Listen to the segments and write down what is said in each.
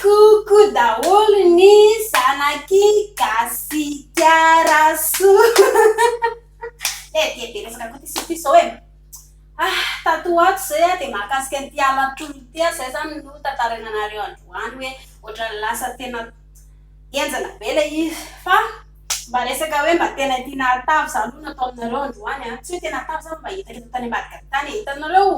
Koko daholo ny zanaky Gasikarasoa. Eh dia be resaka koa ity sofiko izao e! Ah, tato ho ato izay aho dia mahakasika an'ity halatr'olona ity aho, izay izany no tantaraina anareo androany hoe ohatran'ny lasa tena henjana be ilay izy. Fa mba resaka hoe mba tena ity nahatavy izany hono atao aminareo androany an! Tsy hoe tena hatavy izany fa mba hitan-dry zareo tany ambadika tany e! Hitanareo?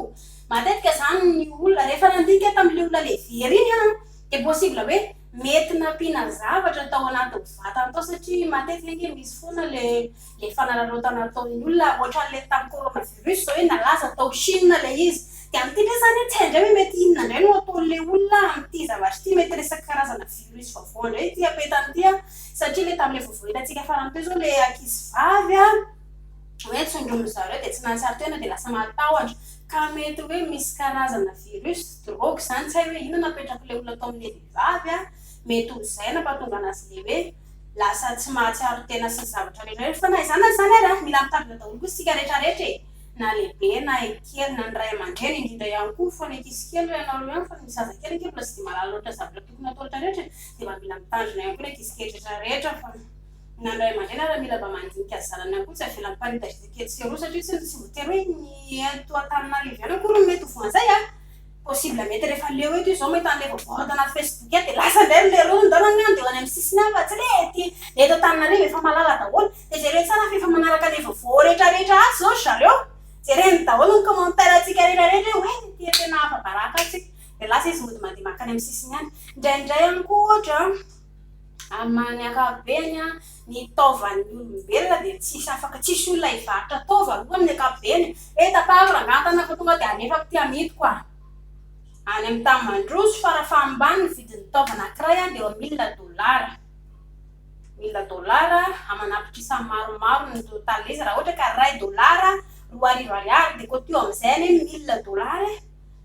Matetika izany ny olona rehefa nandinika tamin'ilay olona levera iny an, dia possible hoe mety nampiana zavatra tao anatin'ny vatany tao satria matetika ange misy foana ilay fanararaotana ataon'ny olona ohatran'ilay tamin'ny coronavirus izao hoe nalaza tao Chine ilay izy dia amin'ity indray izany tsy hay indray hoe mety inona indray no ataon'ilay olona amin'ity zavatra ity, mety resaka karazana virus vaovao indray ity apetany ity an, satria ilay tamin'ilay vaovao hitantsika farany teo izao ilay ankizivavy an hoe tsindromin'ny zareo dia tsy nahatsiaro tena dia lasa mahatahotra. Ka mety hoe misy karazana virus, drogue zany, tsy hay hoe inona napetrak'le olona tao amin'le vehivavy a, mety ho zay nampatonga anazy le hoe lasa tsy mahatsiaro tena sy ny zavatra rehetra rehetra, fa na izany na izany ary a mila mitandrina daholo koa isika rehetra rehetra e, na lehibe na kely na ny ray aman-dreny indrindra ihany koa, fa ny ankizy kely hoy ianao reo ihany fa ny zaza kely ange mbola tsy dia mahalala loatra zavatra tokony hatao rehetra rehetra e, dia mba mila mitandrina ihany koa ny ankizy kely rehetra rehetra fa. Nany ray aman-dreny ary mila mba mandinika zanany ihany koa tsy avela miparitadritaka etsy sy eroa satria tsy tsy voatery hoe ny eto Antananarivo ihany akory no mety ho voan'izay a! possible mety rehefa leo eto izao mahita an'ilay voaboard ana facebook ihany dia lasa indray ry leroa ny daholo angamba dia ho any amin'ny sisiny any fa tsy hoe ety eto Antananarivo efa malala daholo dia jereo tsara fa efa manaraka ilay vaovao rehetra rehetra atsy izao ry zareo jereny daholo ny commentaire antsika rehetra rehetra hoe oay ity tena afa-baraka antsika dia lasa izy mody mandeha makany amin'ny sisiny any, indraindray ihany koa ohatra an! Amin'ny ankapobeny, ny taovan'ny olombelona dia tsisy afaka tsisy olona hivarotra taova aloha amin'ny ankapobeny e, eh tapahako rangahy an-tanana fa tonga dia alefako aty amidiko a! any amin'ny tany mandroso fara fahambany ny vidin'ny taova anankiray dia eo amin'ny mille dollars, mille dollars aman'apitrisa maromaro ny totalin'izy raha ohatra ka iray dollars roa arivo ariary dia koa toa amin'izay anie ny mille dollars e!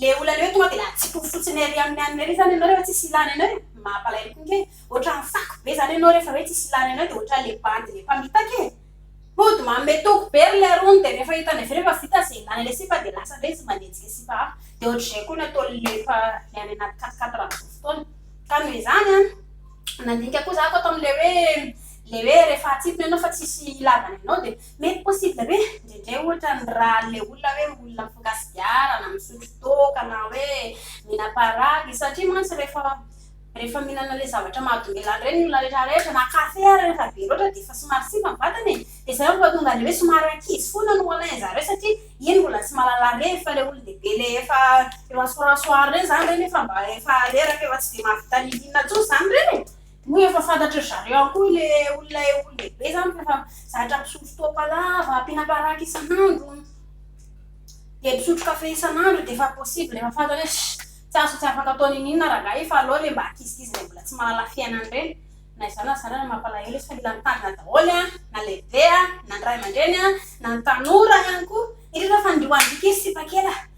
Le olana eo tonga de latsipofo fotsiny ery aminy any ery zany enao refa tsisy ilana enao e! Mampalahelo koa nge! Otrany fako be zany enao refa hoe tsisy ilana enao de otrany le bandy le mpamitaka e! Hody manome toky be ry lerony de refa hitany avy eo fa vita ze ilana le sipa de lasa ndray izy manenjika sipa hafa de otrzay koa ny ataony le efa le any anaty katikatira amzao fotoana ka noho izany an! Nandinika koa za koa ato amle hoe le hoe refa atsipiny enao fa tsisy ilavana enao de Mety possible be, indraindray ohatra ny ra an'ilay olona hoe olona mifoka sigara na misotro toaka na hoe mihina paragy, satria mantsy rehefa rehefa mihinana an'ilay zavatra mahadomelina an'ireny ny olona rehetra rehetra, na kafe ary rehefa be loatra dia efa somary simba ny vatana e, dia izay no mahatonga an'ilay hoe somary ankizy foana no alain-dry zareo satria iny mbola tsy mahalala revy, fa ilay olon-dehibe ilay efa efa soir soir ireny izany ireny efa mba efa reraka efa tsy dia mahavita nihina intsony izany ireny e. Moa efa fantatry ry zareo ihany koa ilay olona eo lehibe izany fa efa zatra misotro toaka lava, mpihina baraky isan'andro, dia misotro kafe isan'andro dia efa possible efa fantany hoe ssss tsy azo tsy afaka atao n'inon'inona rangahy fa aleo re mba ankizikizy izay mbola tsy mahalala fiainana ireny na izany na izany ary mampalahelo izy fa mila mitandrina daholo an, na lehibe an, na ny ray aman-dreny an, na ny tanora ihany koa indrindra fa ny ry ho an'ny ankizy sipakely a!